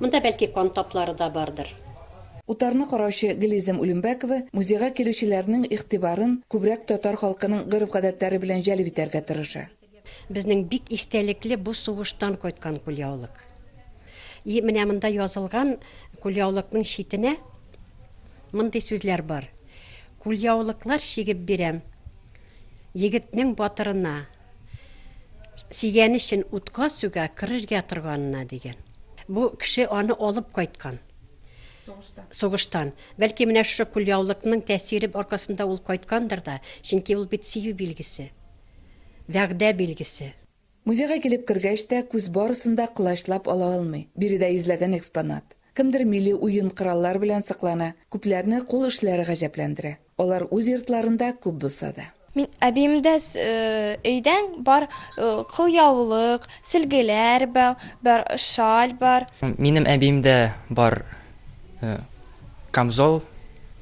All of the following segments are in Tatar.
Монда бәлки кан таплары да бардыр. Утарны караучы Гөлйөзем Улембәкова музейга килүчеләрнең игътибарын күбрәк татар халкының гореф-гадәтләре белән җәлеп итәргә тырыша. Безнең бик истәлекле бу сугыштан кайткан кулъяулык. И менә монда язылган кулъяулыкның читенә мондый сүзләр бар, Кулъяулыклар чигеп бирәм егетнең батырына. Сөйгәне өчен утка суга керергә торганына дигән. Бу кеше аны алып кайткан. Сугыштан. Сугыштан. Бәлки менә шушы кулъяулыкның тәэсире аркасында ул кайткандыр да, чөнки ул бит сөю билгесе. Вәгъдә билгесе. Музейга килеп кергәч тә, күз барысын да колачлап ала алмый. Биредә йөзләгән экспонат. Кемдер милли уен-кораллар белән сыклана, күпләрне кул эшләре гаҗәпләндерә. Алар үз йортларында күп булса да. Мин әбиемдә өйдән бар кулъяулык, сөлгеләр бар, шаль бар. Минем әбиемдә бар камзол,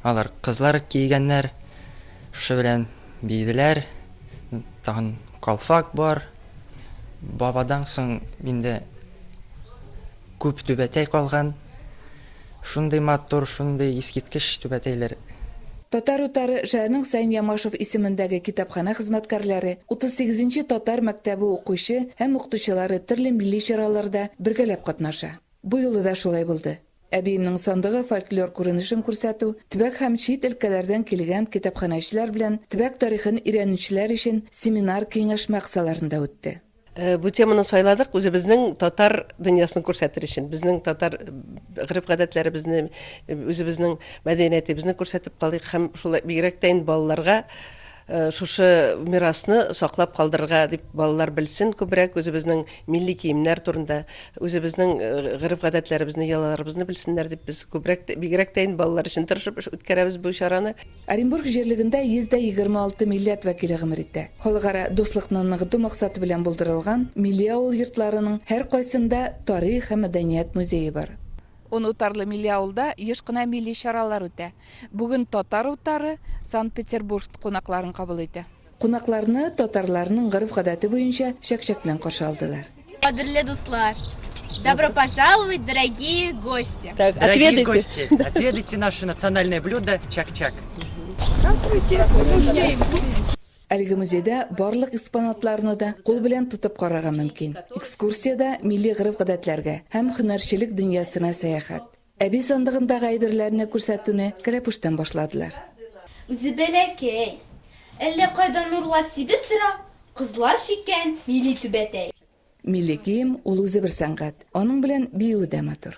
алар кызлар кигәннәр, шушы белән биеделәр, тагын калфак бар. Бабадан соң инде күп түбәтәй калган. Шундый матур, шундый искиткеч түбәтәйләр. Татар утары шәһәрнең Саим Ямашев исемендәге китапханә хезмәткәрләре, 38 нче татар мәктәбе укучы һәм укытучылары төрле милли чараларда бергәләп катнаша. Бу юлы да шулай булды. Әбиемнең сандыгы фольклор күренешен күрсәтү, төбәк һәм чит өлкәләрдән килгән китапханәчеләр белән төбәк тарихын өйрәнүчеләр өчен семинар-киңәшмә кысаларында үтте. Э, бу теманы сайладык үзебезнең татар дөньясын күрсәтер өчен безнең татар э, гырып гадәтләребезне э, үзебезнең мәдәниятебезне күрсәтеп калыйк һәм шулай бигрәк тә инде балаларга шушы мирасны саклап калдырырга дип балалар белсен күбрәк үзебезнең милли киемнәр турында үзебезнең гырып гадәтләребезне йолаларыбызны белсеннәр дип без күбрәк бигрәк тә инде балалар өчен тырышып үткәрәбез бу чараны Оренбург җирлегендә 126 милләт вәкиле гомер итә. Халыкара дуслыкны ныгыту максаты белән булдырылган милли авыл йортларының һәркайсында тарих һәм мәдәният музее бар. Онутарлы милли авылда еш кына милли чаралар үтә. Бүген Татар утары Санкт-Петербург кунакларын кабул итә. Кунакларны татарларның гореф-гадәте буенча чәк-чәк белән каршы алдылар. Кадерле дуслар! Добро пожаловать, дорогие гости! Так, Дорогие отведайте. гости, отведайте наше национальное блюдо чак-чак. Здравствуйте, музей! Әлеге музейда барлык экспонатларны да кул белән тотып карарга мөмкин. Экскурсиядә милли гореф-гадәтләргә һәм һөнәрчелек дөньясына сәяхәт. Әби сандыгындагы әйберләрне күрсәтүне кәләпүштән башладылар. Үзе бәләкәй. Әллә кайдан урла сибеп тора, кызлар чиккән милли түбәтәй. Милли кием, ул үзе бер сәнгать. Аның белән биюе дә матур.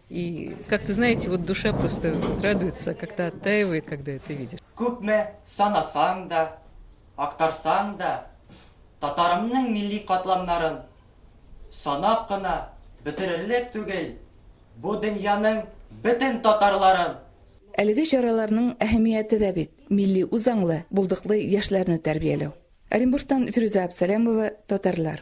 И как ты знаете, вот душа просто радуется, как-то оттаивает, когда это видишь. Күпме санасаң да, актарсаң да, татарымның милли катламнарын санап кына бетерерлек түгел, бу дөньяның бөтен татарларын, Әлеге чараларның әһәмияте дә бит, милли үзаңлы, булдыклы яшьләрне тәрбияләү. Оренбургтан Фирүзә Абсалямова, Татарлар.